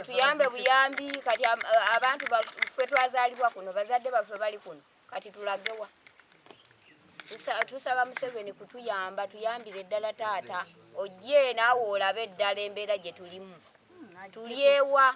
tuyambe buyambi kati abantu fe twazalibwa kuno bazadde baffe bali kuno kati tulagewa tusaba museveni kutuyamba tuyambire eddala taata ojje naawe olabe eddala embeera gye tulimu hmm, tulyewa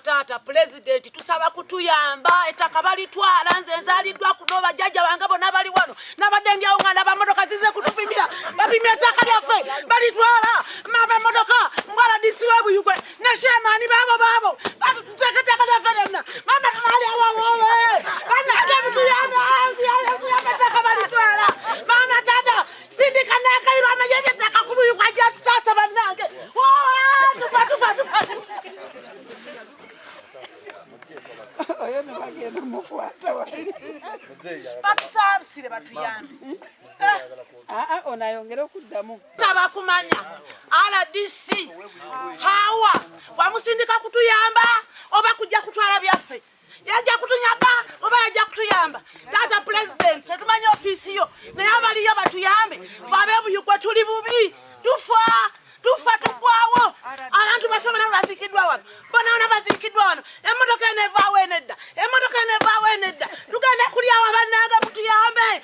taata pulezidenti tusaba kutuyamba ettaka balitwala nze nzaliddwa kuno bajjajja bange bona bali wano nabadde ndyawo nga ndaba motoka zize kutupimira bapimya ettaka lyaffe balitwala mama emotoka mwaladisi webuyugwe neshemaani baabo baabo batututeeka ettaka lyaffe lyonna mama tumalyawawowe banaate mutuyamba sindika nakabirwa amanye ebyettaka ku buyu kwajja tutaasa bannange tufa tufa tufa oyo nebagenda mukwata batusabisire batuyambi aa ah, ah, onayongere okuddamu tabakumanya rdc hawa wamusindika kutuyamba oba kujja kutwala byaffe yajja kutunyamba oba yajja kutuyamba taata pulezidenti tetumanyi ofiisi yo naye abaliyo batuyambe fe abebuyugwe tuli bubi tufa tufa tugwawo abantu bafe bona bazikiddwa wano bona bona bazikiddwa wano emotoka eno evaawo enedda emotoka eno evaawo enedda tugenda kulyawo abanaaga mutuyambe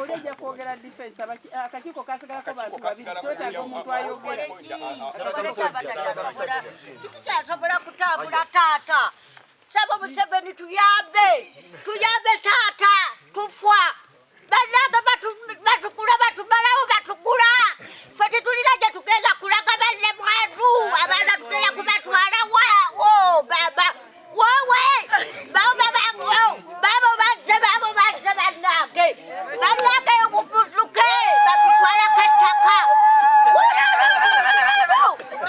olija kwogera defense akakiiko kasigalako bantu babiri twetaaga omuntu ayogera kyasobola kutambula taata sebo museveni tuyambe tuyambe taata tufwa bannange batukula batumalawo batugula fe tetulina gye tugenda kulaga banne mwantu abaana tugenda kubatwala wawo baba wowe bao babanguo babo bazze babo bazze bannange bannange okubutuke batutwalako ettaka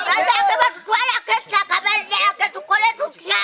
bannange batutwalako ettaka bannange tukole tutya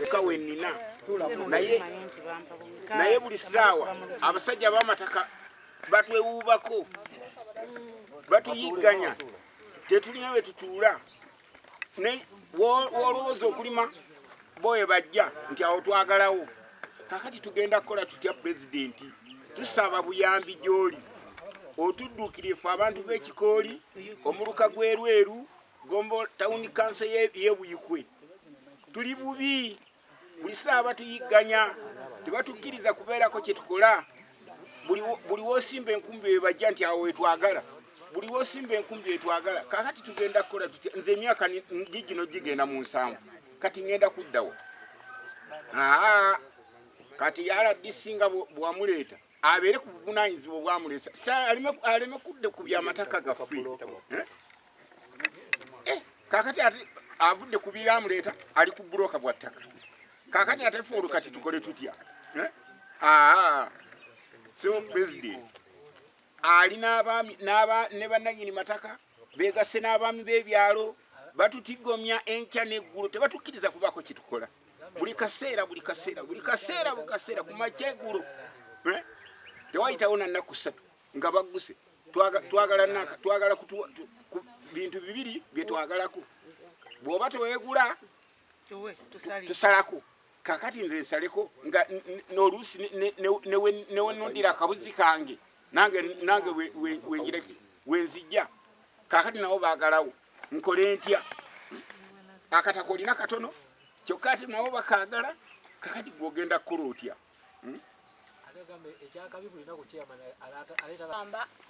leka wenina naye naye buli saawa abasajja bamataka batwewuubako batuyigganya tetulina we tutuula wolowooza okulima boye bajja nti awo twagalawo kakati tugenda kukola tutya pulezidenti tusaba buyambi gyoli otuddukirifu abantu b'ekikooli omuluka gw'erweru Gombo town council ye Buyikwe tuli bubi buli saa batuyigganya tebatukkiriza kubeerako kye tukola buli wosimba enkumbi ebajja nti awo wetwagala buli wosimba enkumbi etwagala kakati tugenda kukola tutya nze emyaka gigino gigenda mu nsanvu kati ngenda kuddawo kati yala disinga bwamuleeta abeere ku buvunanyizibwa obwamulesa aleme kudde ku byamataka gaffe eh? Eh, kakati ate avudde ku byamuleeta ali ku buloka bwa ttaka kakati ate fe olwo kati tukole tutya eh? aa sebo president ali ne bananyini mataka Beegasse n'abaami b'ebyalo batutigomya enkya n'eggulu tebatukkiriza kubaako kye tukola buli kaseera buli kaseera buli kaseera buli kaseera ku makya eggulu eh? tewayitawo na nnaku ssatu nga bagguse twagala naka twagala ku bintu bibiri bye twagalako bw'oba teweegula tusalako kakati nze nsaleko nga noluusi newenondira akabuzi kange nange nange wengireki wenzijja kakati nawo bagalawo nkole ntya akataka olina katono kyokka ati nawo bakagala kakati gwogenda kukola otya hmm?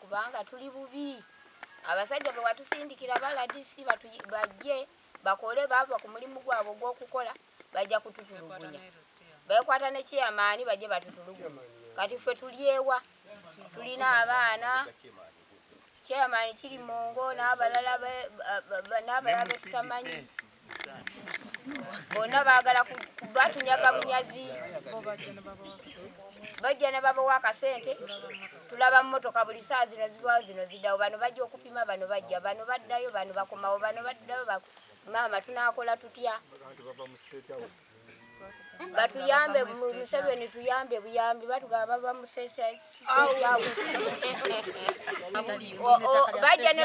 kubanga tuli bubi abasajja bewatusindikira baladisi bajje bakole bava ku mulimu gwabwe ogwokukola bajja kututulugunya bekwata ne chairman baje batutulugunya kati ffe tulyewa tulina abaana chairman kiri mungo n'abalala n'abalala betutamanyi bonna baagala batunyaga bunyazi bajja ne babawa akasente tulaba mmotoka buli saa zino zibawo zino zidawo bano bajja okupima bano bajja bano baddayo bano bakomawo bano baddayo Maama tunakola tutya? Batuyambe Museveni tuyambe buyambi batugaba bava mu state house. Bajja ne